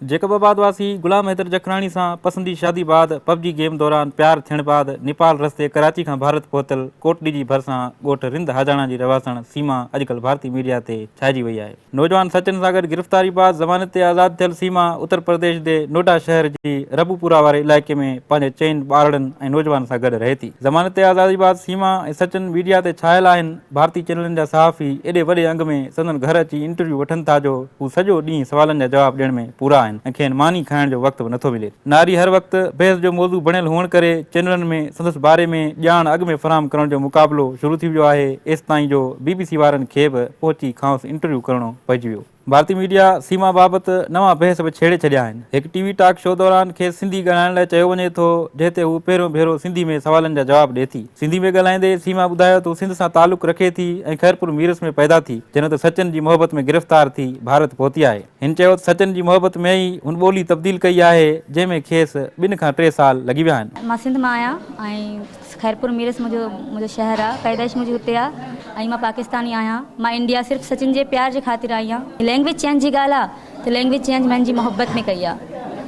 Jacob آباد واسي غلام حيدر جکراڻي سان پسندي شادي بعد پبجي گيم دوران پيار ٿيڻ بعد نيپال رستي ڪراچي کان ڀارت پهتل ڪوٽڏي جي ڀرسان ڳوٺ رند هاجاڻا جي رهواسڻ سيما اڄڪلهه ڀارتي ميڊيا تي ڇائجي وئي آهي. نوجوان سچن سان گڏ گرفتاري بعد ضمانت تي آزاد ٿيل سيما اتر پرديش دي نوئڊا شهر جي ربوپورا واري علائقي ۾ پنهنجي چئن ٻارڙن ۽ نوجوان سان گڏ رهي ٿي. ضمانت تي آزادي بعد سيما ۽ سچن ميڊيا تي ڇايل آهن. ڀارتي چينلن جا صحافي ايڏي وڏي انگ ۾ سندن گهر اچي انٽرويو وٺن ٿا جو هو سڄو ڏينهن سوالن جا جواب ڏيڻ ۾ پورا آهن ۽ کين ماني کائڻ جو وقت به نٿو ملي. ناري هر وقت بحث جو موضوع بڻيل هئڻ ڪري چينلن ۾ سندس باري ۾ ڄاڻ اڳ ۾ فراهم ڪرڻ جو مقابلو شروع ٿي ويو آهي ايستائين جو بي بي سي وارن کي به پهچي کانئس انٽرويو ڪرڻو پئجي ويو. ڀارتي ميڊيا سيما بابت نوان بحث به ڇيڙي ڇڏيا آهن. هڪ ٽي وي ٽاڪ شو دوران کيس سنڌي ڳالهائڻ لاء چيو وڃي ٿو، جنهن تي هوء پهريون ڀيرو سنڌي ۾ سوالن جا جواب ڏئي ٿي. سنڌي ۾ ڳالهائيندي سيما ٻڌايو ته هو سنڌ سان تعلق رکي ٿي ۽ خيرپور ميرس ۾ پيدا ٿي، جنهن ته سچن جي محبت ۾ گرفتار ٿي ڀارت پهتي آهي. هن چيو ته سچن جي محبت ۾ ئي هن ٻولي تبديل ڪئي آهي، جنهن ۾ کيس ٻن کان ٽي سال لڳي ويا آهن. مان سنڌ مان آهيان ۽ خيرپور ميرس منهنجو منهنجو شهر آ پيدائش منهنجي هتي آ ۽ مان پاڪستاني آهيان مان انڊيا صرف سچن جي پيار جي خاطر آئي آن لينگويج چينج جي ڳالهه آ ته لينگويج چينج مين جي محبت ۾ ڪئي آ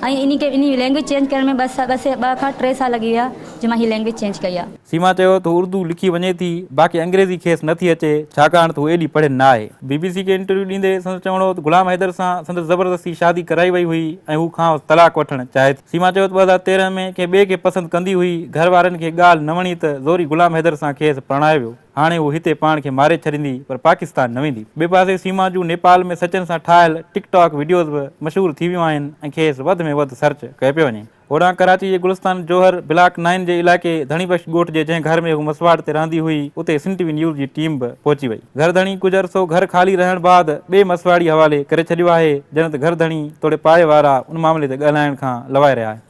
۽ انهي کي انهي لينگويج چينج ڪرڻ ۾ ٻه ٻه سي ٻه کان ٽي سال لڳي ويا جو مان هي لينگويج چينج ڪئي آ. سيما چيو ته هو اردو لکي وڃي ٿي باقي انگريزي کيس نه ٿي اچي ڇاڪاڻ ته هو ايڏي پڙهيل نه آهي. بي بي سي کي انٽرويو ڏيندي سندس چوڻ هو ته غلام حيدر سان سندس زبردستي شادي ڪرائي وئي هئي ۽ هو کانئس طلاق وٺڻ چاهي ٿي. سيما چيو ته ٻه هزار تيرهن ۾ ڪنهن ٻئي کي پسند ڪندي هئي، گهر وارن کي ڳالهه نه وڻي ته زوري غلام حيدر سان کيس پرڻايو ويو، هاڻي هو هتي پاڻ کي ماري ڇڏيندي پر پاڪستان نه ويندي. ٻئي پاسي سيما جون نيپال ۾ سچن سان ٺاهيل ٽڪ ٽاڪ وڊيوز به مشهور ٿي ويون آهن ۽ کيس وڌ ۾ وڌ سرچ ڪيو پيو وڃي. هوڏانهن ڪراچي جي گلستان جوهر بلاڪ نائن جي علائقي ڌڻي بخش ڳوٺ جي جنهن گهر ۾ هو مسواڙ تي رهندي هئي اتي سنٽي وي نيوز جي ٽيم به پهچي وئي. گهر ڌڻي ڪجهه عرصو گهر خالي رهڻ بعد ٻئي مسواڙي حوالي ڪري ڇڏيو آهي، جڏهن ته گهر ڌڻي توڙي پاڙي وارا ان معاملي تي ڳالهائڻ کان لوائي رهيا آهن.